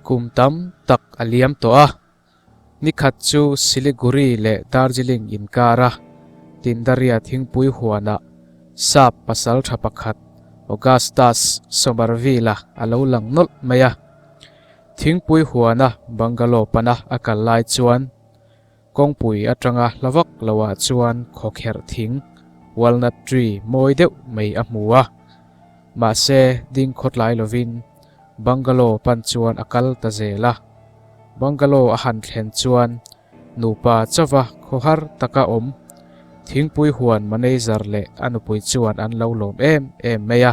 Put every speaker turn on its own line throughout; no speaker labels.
Kum tam tak a liam tawh a, nikhat chu Siliguri leh Darjeeling inkar a Tindaria thingpui huanah sap pasal tha pakhat Augustus Somerville-a a lo lang nawlh mai a. Thingpui huana bungalow pana a kal lai chuan Kawngpui atanga hla vak loah chuan khawkherh thing, walnut tree, mawi deuh mai a hmu a. Mahse, ding khawtlai lovin bungalow pan chuan a kal ta zel a. Bungalow a han thlen chuan nupa chauva khaw har taka awm. Thingpui huan manager leh a nupui chuan an lo lawm em em mai a,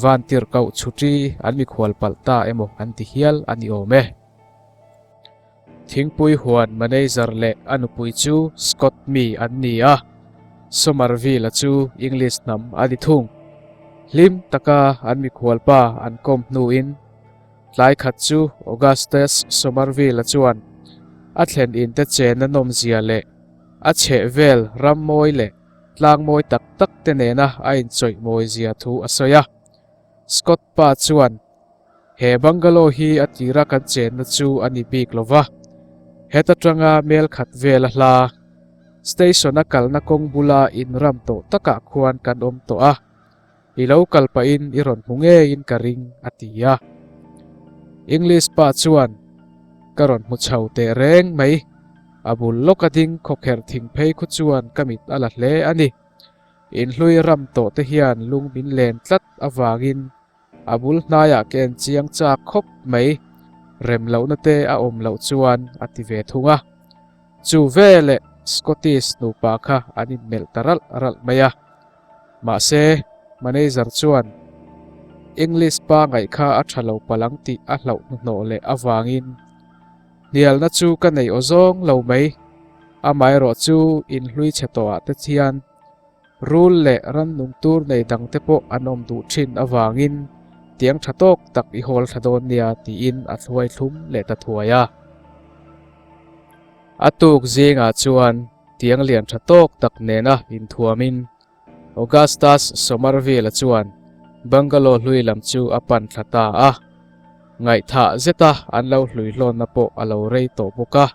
van tirh kauh chhuti an mikhual palh ta emaw an ti hial a ni awm e. Thingpui huan manager leh a nupui chu Scott mi an ni a, Somerville-a chu English hnam a ni thung. Hlim taka an mikhualpa an kawm hnuin tlai khat chu Augustus Somerville-a chuan a thlen inte chenna nawmzia leh a chheh vel rammawi leh tlangmawi tak takte nena a inchawih mawizia thu a sawi a. Scott pa chuan. He bungalow hi a tira kan chenna chu a ni bik lo va, heta tanga mel khat vel a hla. Station a kalna kawng bula in ram tawh takah khuan kan awm tawh a, i lo kal pahin i rawn hmu ngeiin ka ring, a ti a. English pa chuan, Ka rawn hmu chho teh reng mai. A bul lawk a ding khawkherh thing phei khu chuan ka mit a la hle a ni. In hlui ram tawh te hian lung min len tlat avangin A bul hnaiah ken chiang chak khawp mai rem lohna te a awm loh chuan a ti ve thung a. Chu veleh Scottish nupa kha an inmelh ta ralh ralh mai a. Mahse, manager chuan English pangaih kha a tha lo palh ang tih a hlauh hnuhnawh leh avangin, Hnialna chu ka nei aw zawng lo mai, amaherawhchu inhlui chhe tawhah te hian Rul leh rannung tur nei dangte pawh an awm duh thin avangin tiang tha tawk tak i hawl thla dawn nia tiin a hluai thlum leh ta thuai a. A tuk zingah chuan tiang lian tha tawk tak nena inthuamin Augustus Somerville-a chuan Bangalore hlui lam chu a pan thla ta a, ngaihthah zeta an lo hluihlawnna pawh a lo rei tawh bawk a.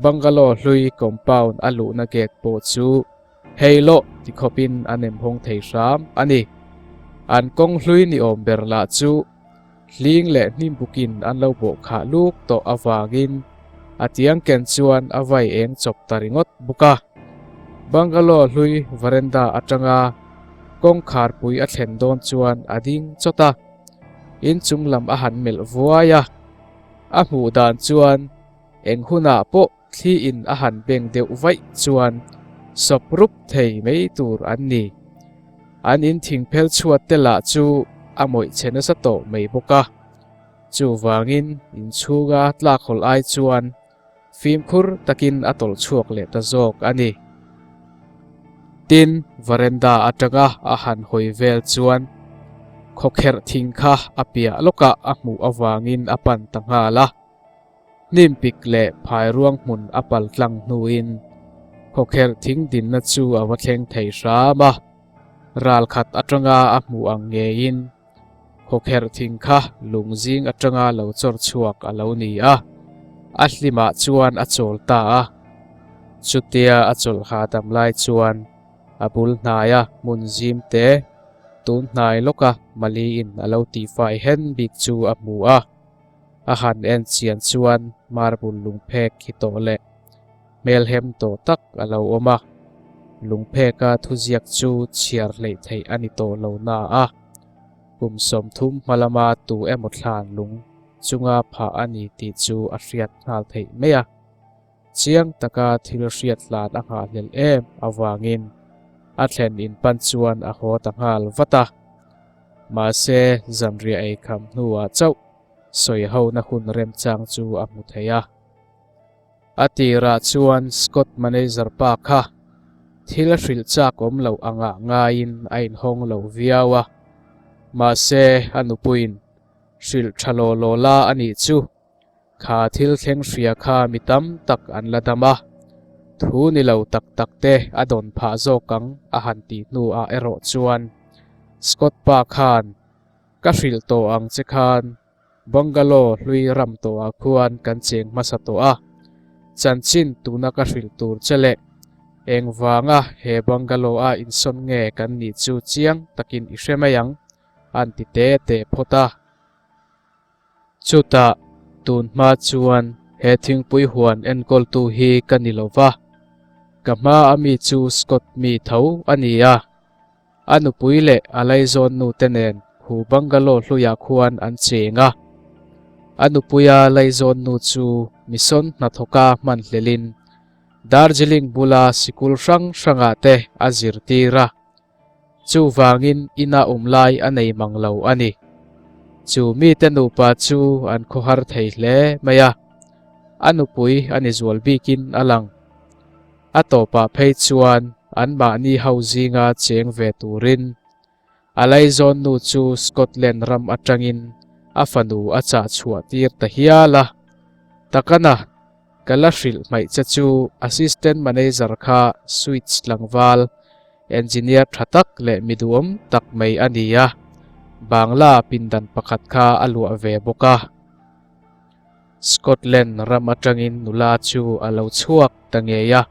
Bangalore hlui compound a luhna gate pawh chu Hei loh ti khawp in an em hawng thei hram a ni. An kawng hlui ni awm ber lah chu hling leh hnim buk in an lo bawh khah luk tawh avang in a tiang ken chuan a vai eng chawp ta ringawt bawk a. Bungalow hlui veranda atanga kawngkhar pui a thlen dawn chuan a ding chawt a, inchung lam a han melh vuai a. A hmuh dan chuan eng hunah pawh Thli in a han beng deuh vaih chuan sawp rup thei mai tur an ni. An in thingphel chhuat te lah chu a mawih che nasa tawh mai bawk a. Chuvangin inchhunga tlak hawl ai chuan fimkhur takin a tawlh chhuak leh ta zawk a ni. Tin, veranda atanga a han hawi vel chuan khawkherh thing kha a piah lawkah a hmuh avangin a pan ta nghal a. Hnimpik leh phai ruang hmun a pal tlang hnuin khawkherh thing dinna chu a va thleng thei hram a. Ral khat atanga a hmuh ang ngeiin khawkherh thing kha lung zing atanga lo chawr chhuak a lo ni a, a hlimah chuan a chawl ta a. Chutia a chawl hahdam lai chuan a bul hnaia hmun zim te tun hnai lawka Mali-in a lo tifai hen bik chu a hmu a. A han en chian chuan marble lungphek hi tawh leh hmelhem tawh tak a lo awm a, lungpheka thuziak chu chhiar hleih theih a ni tawh lo na a, kum sawmthum hmalama tu emaw thlan lung chunga phah a ni tih chu a hriat nghal theih mai a. Chiang taka thil hriat hlan a nghahhlel em avangin a thlen in pan chuan a haw ta nghal vat a. Mahse zanriah ei kham hnuah chauh sawi hona hun remchang chu a hmu thei a. A tirah chuan Scott manager pa kha thil hrilh chak awm loh angah ngaiin a inhawng lo viau a. Mahse a nupuiin hrilh tha law law la a nih chu. Kha thil thleng hria kha mi tam tak an la dam a, thu ni lo tak tak te a dawn phah zawk ang a han tih hnuah erawh chuan Scott pa khan, Ka hrilh tawh ang che khan bungalow hlui ram tawhah khuan kan cheng hmasa tawh a, chanchin tuna ka hrilh tur che le, engvanga he bungalow a insawn nge kan nih chu chiang takin i hre mai ang, a han ti te te phawt a. Chutah tun hma chuan he thingpui huan enkawltu hi ka ni lo va, ka hma a mi chu Scott mi tho a ni a. A nupui leh a laizawnnu te nen hu bungalow hluiah khuan an cheng a. A nupuia laizawnnu chu mission hnathawka hmanhlelhin Darjeeling bula sikul hrang hrangah te a zirtir a. Chuvangin ina awm lai a nei mang lo a ni. Chu mite nupa chu an khawhar thei hle mai a, a nupui a ni zual bikin a lang. A tawpah phei chuan anmahni ho zinga cheng ve turin a laizawnnu chu Scotland ram atangin a fanu a chahchhuah tir ta hial a. Takana! Ka la hrilh hmaih che chu Assistant Manager kha Switch tlangval, Engineer tha tak leh mi duhawm tak mai a ni a, Bangla pindan pakhat kha a luah ve bawk a. Scotland ram atangin nula chu a lo chhuak ta ngei a,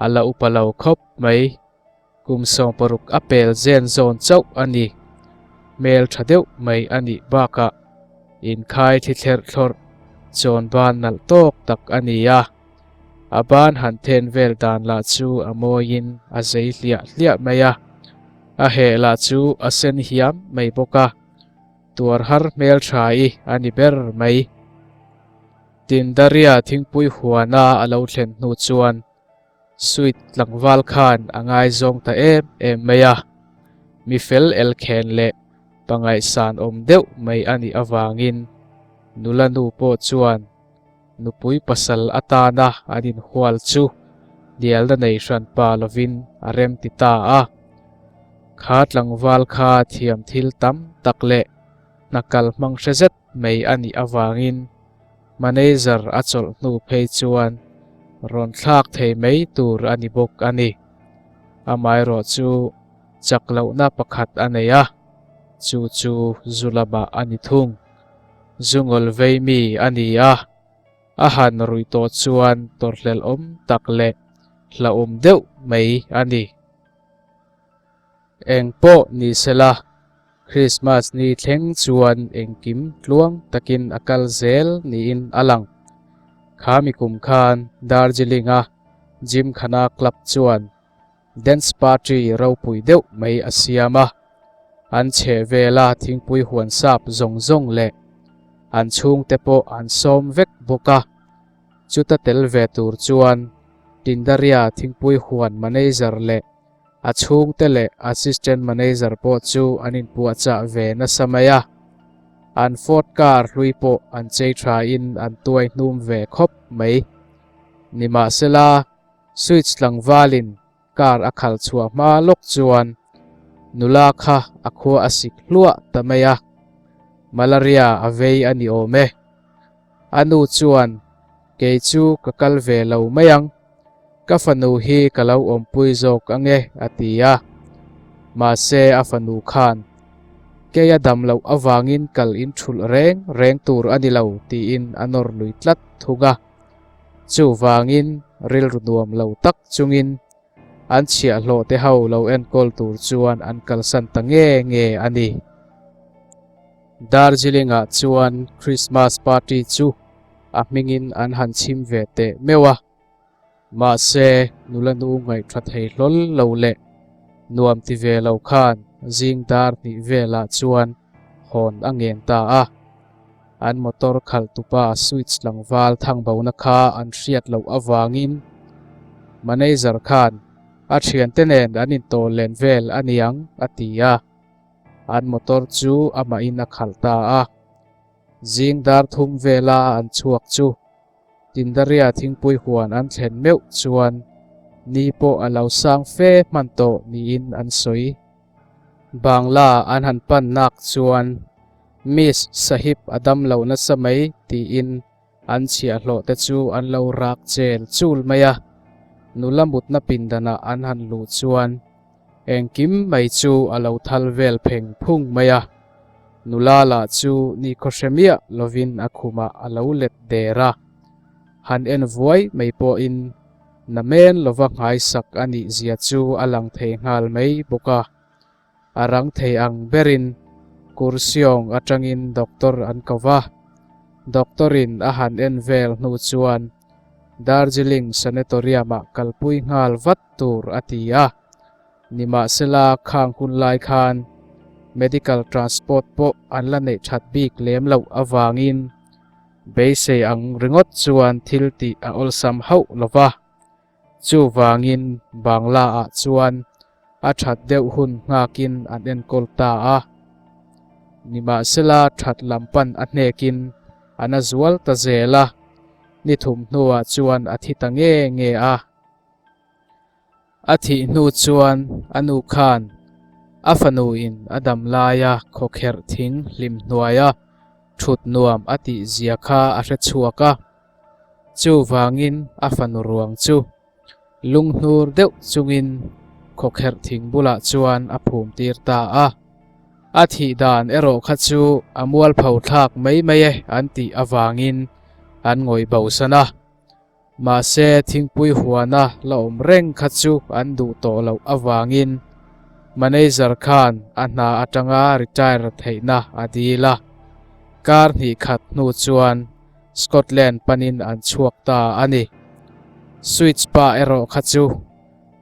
a la upa lo khawp mai. Kum sawng paruk a pel zen zawn chauh a ni. Hmel tha deuh mai a nih bakah inkhai thi thlerh thlawrh chawn ban nalh tawk tak a ni a. A ban han then vel dan lah chu a mawiin a zei hliah hliah mai a. A heh lah chu a sen hiam mai bawk a. Tuar har hmel tha i a ni ber mai. Tindaria thingpui huana a lo thlen hnu chuan. Sweet tlangval khan a ngaizawng ta em em mai a, mi fel elkhen leh pangaih sanawm deuh mai a nih avangin nula nu pawh chuan nupui pasal atana an inhual chu dialna nei hran pa lovin a remti ta a. Kha tlangval kha thiam thil tam tak leh hna kal hmang hre zet mai a nih avangin Manager a chawlh hnu phei chuan rawn thlak thei mai tur a ni bawk a ni. Amaherawh chu chak lohna pakhat a nei a, chu chu Zulama a ni thung. Zungawl vei mi a ni a, a han ruih tawh chuan tawrhlelhawm tak leh hlahawm deuh mai a ni. Eng pawh ni sela, Krismas ni thleng chuan engkim tluang takin a kal zel niin a lang. Khami kum khan Darjeeling-a Gymkhana Club chuan Dance Party ropui deuh mai a siam a. An chheh vela thingpui huan sap zawng zawng leh an chhungte pawh an sawm vek bawk a. Chuta tel ve tur chuan Tindaria thingpui huan manager leh A chhungte leh Assistant Manager pawh chu an inpuahchah ve nasa mai a, an Ford car hlui pawh an chei thain an tuai hnum ve khawp mai. Nimahsela, switch tlangvalin car a khal chhuah hma lawk chuan nula kha a khua a sik hluah ta mai a, Malaria a vei a ni awm e. A nu chuan, Kei chu ka kal ve lo mai ang, ka fanu hi ka lo awmpui zawk ange, a ti a. Mahse a fanu khan, Kei a dam loh avangin kal in thulh reng reng tur a ni lo, tiin a nawr lui tlat thung a. Chuvangin rilru nuam lo tak chungin An chhiahhlawhte ho lo enkawl tur chuan an kalsan ta nge nge a ni. Darjeeling-ah chuan Christmas party chu a hmingin an han chhim ve teh meuh a. Mahse, nula nu ngaihtha thei hlawl lo leh nuam ti ve lo khan zingdar hnih velah chuan hawn a ngen ta a. An motor khalh tupa switch tlangval thangbona kha an hriat loh avangin manager khan a thiante nen an intawl len vel a niang a ti a. An motor chu amahin a khalh ta a. Zing dar thum vela an chhuak chu Tindaria thingpui huan an thlen meuh chuan ni pawh a lo sang fe hman tawh niin an sawi. Bangla an han pannak chuan Miss Sahib a dam lo nasa mai tiin an chhiahhlawhte chu an lo rak chel chul mai a. Nula mutna pindanah an han luh chuan engkim mai chu a lo thal vel pheng phung mai a. Nula la chu ni khawhre miah lovin a khumah a lo let der a, han en vuai mai pawhin. Na men lova nghaisak a nih zia chu a lang thei nghal mai bawk a. A rang thei ang berin Kursiawng atangin doctor an ko va. Doctor-in a han en vel hnu chuan Darjeeling Sanatorium-a kalpui nghal vat tur a ti a. Nimahsela khang hun lai khan medical transport pawh an la neih that bik lem loh avangin Beisei ang ringawt chuan thil tih a awlsam hauh lo va. Chuvangin Bangla-ah chuan a that deuh hun nghakin an enkawl ta a. Nimahsela that lam pan a hnekin an a zual ta zel a, ni thum hnuah chuan a thi ta nge nge a. A thih hnu chuan a nu khan a fanu in a dam lai a, khawkherh thing hlim hnuai a thut nuam a tih zia kha a hre chhuak a. Chuvangin a fanu ruang chu lung hnur deuh chungin khawkherh thing bulah chuan a phum tir ta a. A thih dan erawh kha chu a mualpho thlak mai mai e an tih avangin an ngawih bosan a. Mahse, thingpui huana la awm reng kha chu an duh tawh loh avangin manager khan a hna atanga retire theihna a dil a. Kar hnih khat hnu chuan Scotland panin an chhuak ta a ni. Sweets pa erawh kha chu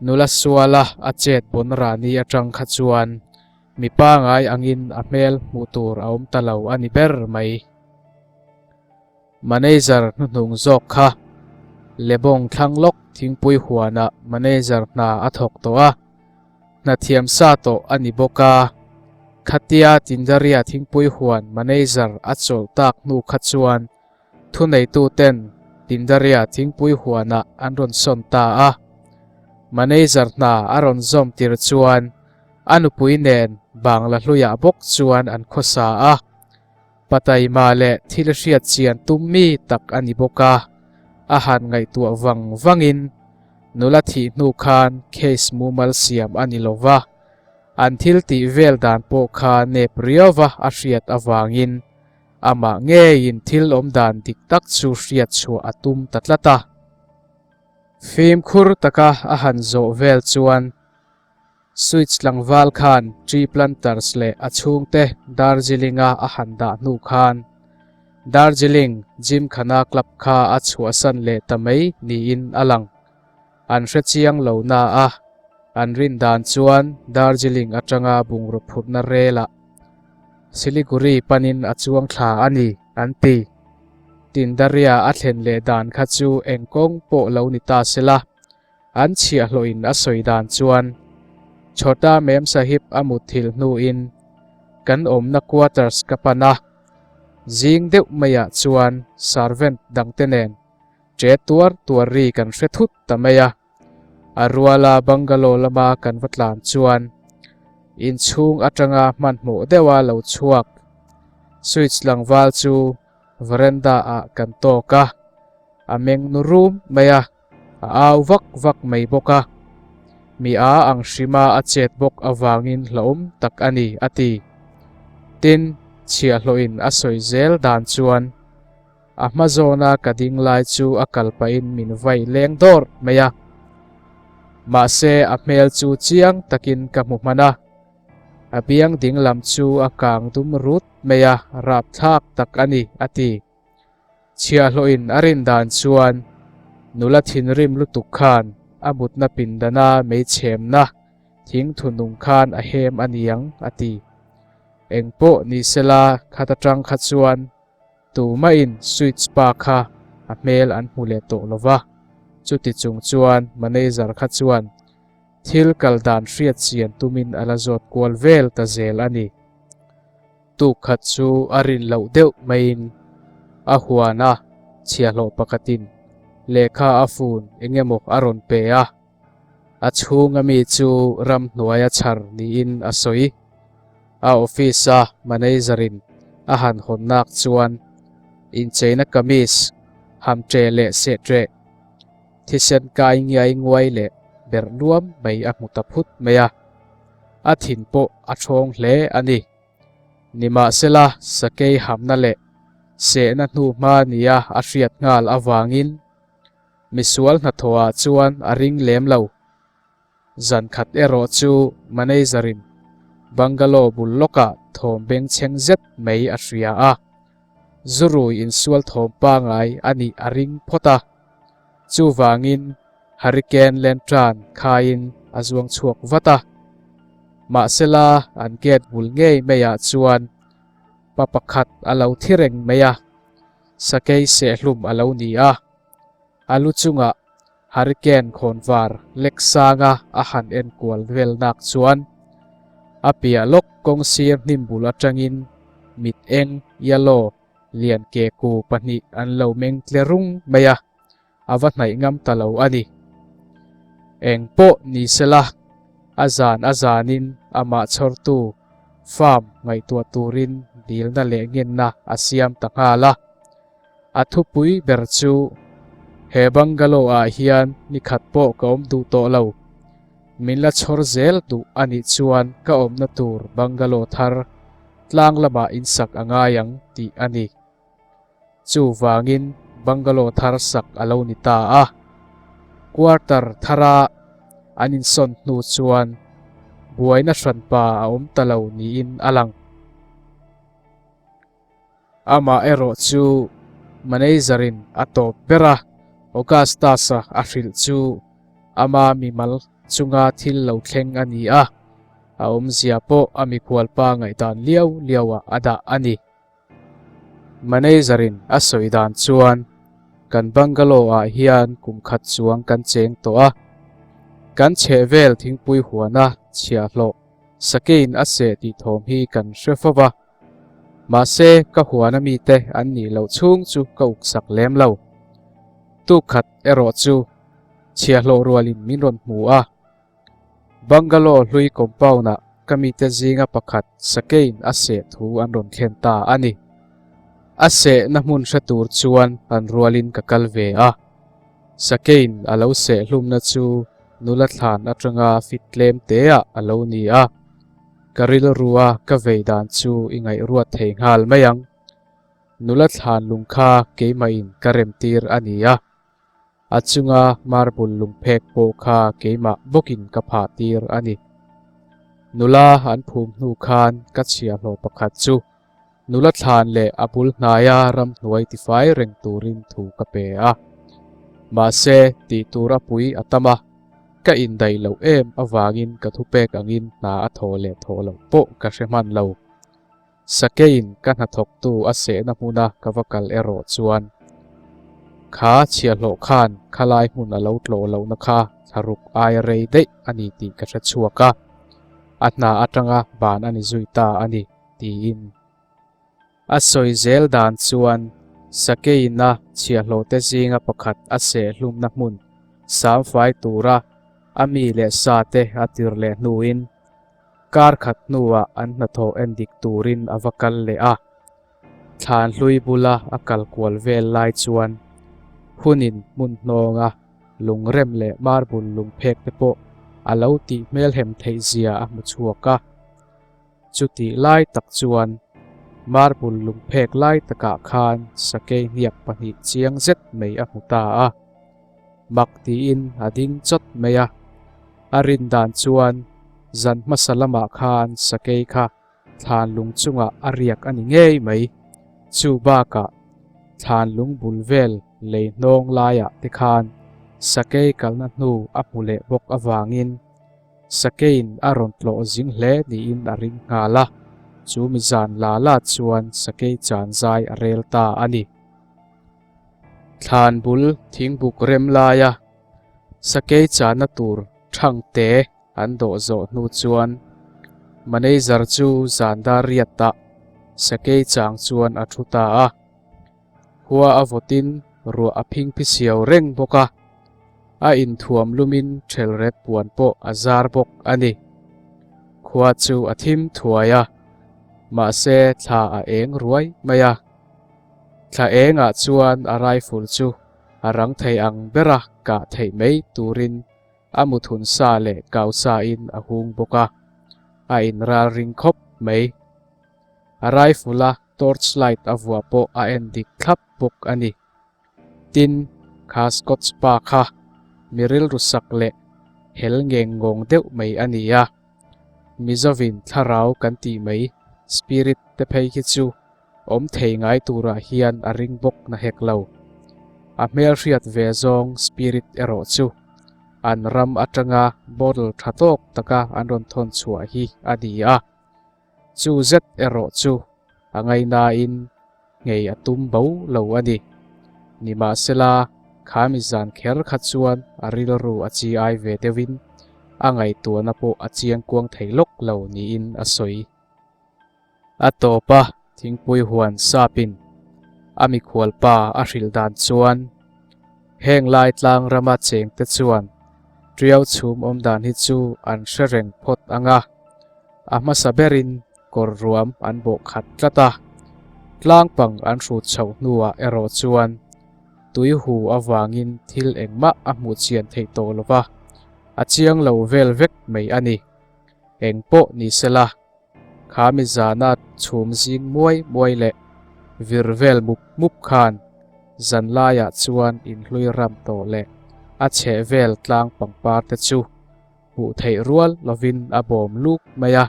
nula suala a chet bunrani atang kha chuan mi pangngai angin a hmel hmuh tur a awm ta lo a ni ber mai. Manager hnuhnung zawk kha Lebawng thlang lawk thingpui huana manager hna a thawk tawh a, hnathiam sa tawh a ni bawk a. Khatia Tindaria thingpui huan manager a chawlh tak hnu kha chuan thuneituten Tindaria thingpui huana an rawn sawn ta a. Manager hna a rawn zawm tir chuan a nupui nen Bangla hluiah bawk chuan an khawsa a. Pataima leh thil hriatchian tum mi tak a ni bawk a, a han ngaihtuah vang vangin nula thih hnu khan case mumal siam a ni lo va, an thil tih vel dan pawh kha nep riau a a hriat avangin amah ngeiin thil awm dan dik tak chu hriatchhuah a tum ta tlat a. Fimkhur taka a han zawh vel chuan Switch tlangval khan Tree Planters leh a chhungte Darjeelinga a han dah hnu khan Darjeeling Gymkhana Club kha a chhuahsan leh ta mai niin a lang. An hre chiang lo naah an rindan chuan Darjeeling atanga bungraw phurhna relah Siliguri panin a chuang thla a ni an ti. Tindaria a thlen leh dan kha chu eng kawng pawh lo ni ta sela An chhiah hlawhin a sawi dan chuan Chhawta Mem Sahib a mutthilh hnuin kan awmna quarters ka pan a. Zing deuh maiah chuan servant dangte nen che tuar tuar ri kan hre thut ta mai a. A ruala bungalow lama kan va tlan chuan inchhung atanga hmanhmawh deuha lo chhuak switch tlangval chu veranda ah kan tawk a, a meng nu rum mai a. A au vak vak mai bawk a, mi a ang hrima a chet bawk avangin hlauhawm tak a ni, a ti. Tin, chhiahhlawhin a sawi zel dan chuan, A hma zawna ka ding lai chu a kal pahin min vai leng dawrh mai a. Mahse, a hmel chu chiang takin ka hmu hman a, a biang dinglam chu a kang dum rut mai a, rapthlak tak a ni, a ti. Chhiahloin a rin dan chuan nula thinrim lutuk khan a mutna pindana mei chhemna thing thunung khan a hem a niang a ti. Engpawh ni sela khat atang kha chuan tumahin sweet spa kha a hmel an hmu leh tawh lo va, chuti chung chuan manager kha chuan thil kal dan hriat chian tumin a la zawt kual vel ta zel a ni. Tuk khat chu a rin loh deuh maiin a huan a, chhiahlawh pakhatin lehkha a fun eng emaw a rawn pe a, a chhunga mi chu ramhnuaia chhar niin a sawi. A office a manager in a han hawnnak chuan incheina kamis ham ṭeh leh seh ṭeh, thisen kai ngiai nguai leh ber nuam mai a hmu ta phut mai a, a thin pawh a ṭhawng hle a ni. Nimahsela, sakei hamna leh sehna hnu hma nia a hriat nghal avangin misual hnathawhah chuan a ring lem lo. Zan khat erawh chu manager-in bungalow bul lawkah thawm bengchheng zet mai a hria a, Zurui insualthawm pangai a nih a ring phawt a. Chuvangin Hurricane Lentran khain a zuang chhuak vat a. Mahsela an gate bul ngei meiah chuan pa pakhat a lo thi reng mai a, sakei sehlum a lo ni a. A lu chungah Hurricane khawnvar lek sanga a han en kual velnak chuan a piah lawk kawng sir hnimbul atangin mit eng, yellow, lian ke ku pahnih an lo meng tle rung mai a, a va hnaih ngam ta lo a ni. Eng pawh ni sela, a zan a zanin amah chhawrtu farm ngaihtuah turin dilna leh ngenna a siam ta nghal a, A thupui ber chu he bungalow ah hian nikhat pawh ka awm duh tawh lo. Min la chhawr zel duh a nih chuan ka awmna tur bungalow thar tlang lamah in sak a ngai ang tih a ni. Chuvangin bungalow thar sak a lo ni ta a. Quarter thara an insawn hnu chuan buaina hranpa a awm ta lo niin a lang. Amah erawh chu manager-in a tawp ber a, Augustus-a a hrilh chu ama mimal chunga thil lo thleng a ni a, a awmzia pawh a mikhual pa ngaihdan liau liauah a dah a ni. Manager-in a sawi dan chuan, Kan bungalow-ah hian kum khat chuang kan cheng tawh a, kan chheh vel thingpui huana chhiah hlawh, sakeiin a seh tih thawm hi kan hre fo va, Mahse ka huana mite an nih loh chhung chu ka uk sak lem lo. Tu khat erawh chu chhia hlawh rualin min rawn hmu a. Bangalore hlui compound-ah ka mite zinga pakhat sakeiin a seh thu an rawn thlen ta a ni. A sehna hmun hre tur chuan han rualin ka kal ve a. Sakeiin a lo seh hlumna chu nula thlan atanga fit tlem teah a lo ni a. Ka rilru a ka vei dan chu i ngaihruat thei nghal mai ang. Nula thlan lung kha keimahin ka remtir a ni a, a chunga marble lungphek pawh kha keimah bawkin ka phahtir a ni. Nula an phum hnu khan ka chhiahhlawh pakhat chu Nula thlan leh a bul hnaia ramhnuai tifai reng turin thu ka pe a. Mahse, tih tur a pui a tam a, ka indaih loh em avangin ka thu pek angin hna a thaw leh thaw loh pawh ka hre hman lo. Sakeiin ka hnathawktu a sehna hmuna ka va kal erawh chuan kha chhia hlawh khan khalai hmun a lo tlawh lohna kha thla ruk ai rei daih a ni tih ka hre chhuak a. A hna atanga ban a ni zui ta a ni. tiin a sawi zel dan chuan Sakei'n-a chhiahhlawhte zinga pakhat a seh hlumna hmun sam fai tura a mi leh sate a tir leh hnuin kar khat hnuah an hnathawh en dik turin a va kal leh a. Thlan hlui bula a kal kual vel lai chuan hunin hmun hnawnga lungrem leh marbul lungphekte pawh a lo tih hmel hem theih zia a hmu chhuak a. Chutih lai tak chuan marble lungphek lai takah khan sakei hniak pahnih chiang zet mai a hmu ta a, mak tiin a ding chawt mai a. A rin dan chuan zan hmasa lamah khan sakei kha thlanlung chungah a riak a ni ngei mai. Chu bakah thlanlung bul vel lei hnawng laiah te khan sakei kalna hnu a hmu leh bawk avangin Sakein a rawn tlawh zing hle niin a ring nghal a, chu mi zan la la chuan Sakei chanzai a rel ta a ni. Thlan bul thing buk rem laia Sakei chana tur thang te an dawh zawh hnu chuan Manager chu zan dar riat ah Sakei chang chuan a thu ta a. Hua a vawtin ruah a phing phi siau reng bawk a, a inthuam lumin ṭhel ret puan pawh a zar bawk a ni. Khua chu a thim thuai a, mahse thla a eng ruai mai a. Thla engah chuan a rifle chu a rang thei ang ber a, kah theih mai turin a muthun sa leh kau sain a hung bawk a, a inral ring khawp mai. A rifle-a torch light a vuah pawh a en dik thlap bawk a ni. Tin, kha Scott's pa kha mi rilru sak leh hel ngeng ngawng deuh mai a ni a. Mizovin thlarau kan tih mai spirit te phei hi chu awm thei ngai turah hian a ring bawk na hek lo. A hmelhriat ve zawng spirit erawh chu an ram atanga bottle tha tawk taka an rawn thawn chhuah hi a ni a. Chu zet erawh chu a ngai nain nghei a tum bo lo a ni. Nimahsela, khami zan kher kha chuan a rilru a chi ai ve deuhin a ngaihtuahna pawh a chiang kuang thei lawk lo niin a sawi. A tawpa thingpui huan sapin a mikhual pa a hrilh dan chuan Heng lai tlang rama chengte chuan Triau chhum awm dan hi chu an hre reng phawt ang a, a hmasa berin kawr ruam an bawh khat tlat a. Tlang pang an hrut chho hnuah erawh chuan tui hu avangin thil engmah a hmuh chian theih tawh lova, a chiang lo vel vek mai a ni. Eng pawh ni sela. Kha mi zana chhum zing muai muai leh vir vel mup mup khan zan laiah chuan in hlui ram tawh leh a chheh vel tlang pangpar te chu hmuh theih rual lovin a bawm luk mai a.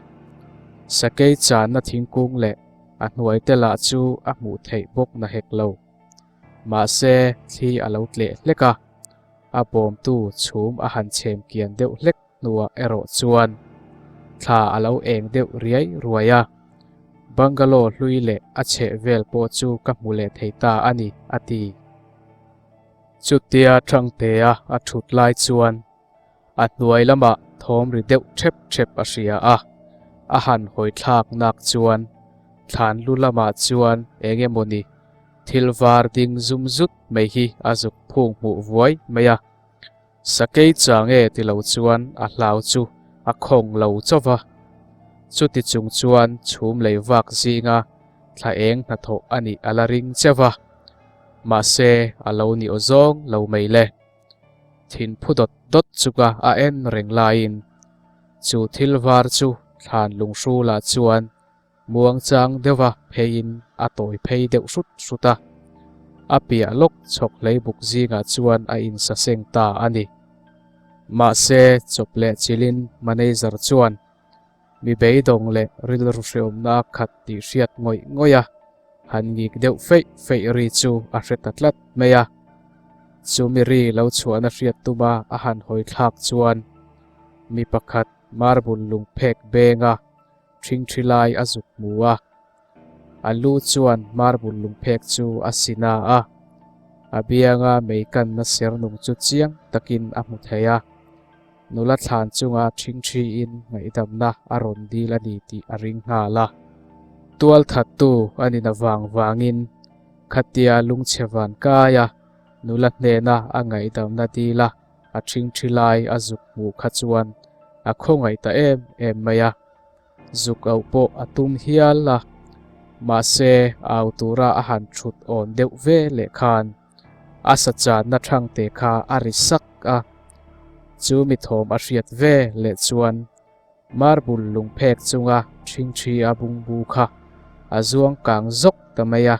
Sakei channa thingkung leh a hnuai te lah chu a hmuh theih bawk na hek lo. Mahse thli a lo tleh hlek a, a bawmtu chhum a han chhem kian deuh hlek. Hnuah erawh chuan thla a lo eng deuh riai ruai a, bungalow hlui leh a chheh vel pawh chu ka hmu leh thei ta a ni, a ti. Chutia Changtea a thut lai chuan a hnuai lamah thawm ri deuh thep thep a hria a, a han hawi thlak nak chuan thlan lu lamah chuan eng emaw ni thil var ding zum zut mai hi a zuk phung hmuh vuai mai a. Sakei cha nge ti lo chuan a hlau chu a khawng lo chauh va, chuti chung chuan chhum lei vak zinga thla eng hnathawh a nih a la ring che va, mahse a lo ni aw zawng lo mai le. Thin phu dawt dawt chuka a en reng laiin chu thil var chu thlan lunghru lah chuan Muangchang deuha pheiin a tawi phei deuh hrut hrut a. A piah lawk chhawk hlei buk zingah chuan a insa seng ta a ni. Mahse, chawp leh chilin manager chuan mi beidawng leh rilru hrehawmna a khat tih hriat ngawih ngawih a, han ngik deuh feih feih ri chu a hre ta tlat mai a. Chu mi ri lo chhuahna hriat tuma a han hawithlak chuan mi pakhat marbul lungphek benga Thingthilai a zuk hmu a, a lu chuan marbul lungphek chu a sin a a, a bianga mei kanna sernung chu chiang takin a hmu thei a. Nula thlan chunga thingthiin ngaihdamna a rawn dil a ni tih a ring nghal a. Tualthattu a nina vang vangin khatia lungchhe van kaia nula hnena a ngaihdamna dil a. a thing thi lai a zuk hmuh kha chuan a khawngaih ta em em mai a, zuk auh pawh a tum hial a, mahse au tura a han thut awn deuh ve leh khan a sa channa thang te kha a ri sak a, chu mi thawm a hriat ve leh chuan Marbul lung phek chunga ṭhing ṭhi a bung bu kha a zuang kang zawk ta mai a,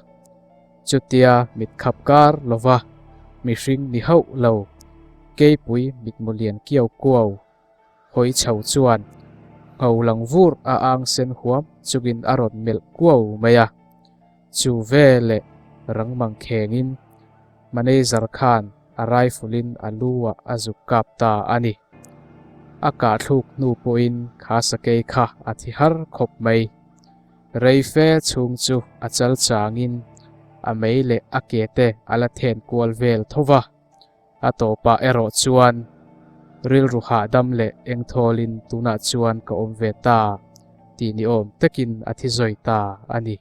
chutia mit khap kar lova mihring ni hauh lo keipui mitmu lian kiau kuau hawi chho chuan hno lang vur a angsen huam chungin a rawn melh kuau mai a. Chu ve leh rangmang khengin manager khan a rifle in a lu ah a zuk kap ta a ni. A kahthluk hnu pawhin Khasakei kha a thi har khawp mai. Reife chhung chu a chal chang in a mei leh a ke te a la then kual vel tho va. A tawpah erawh chuan rilru hahdam leh engthawl in tunah chuan ka awm ve ta tih ni awm takin a thi zawi ta a ni.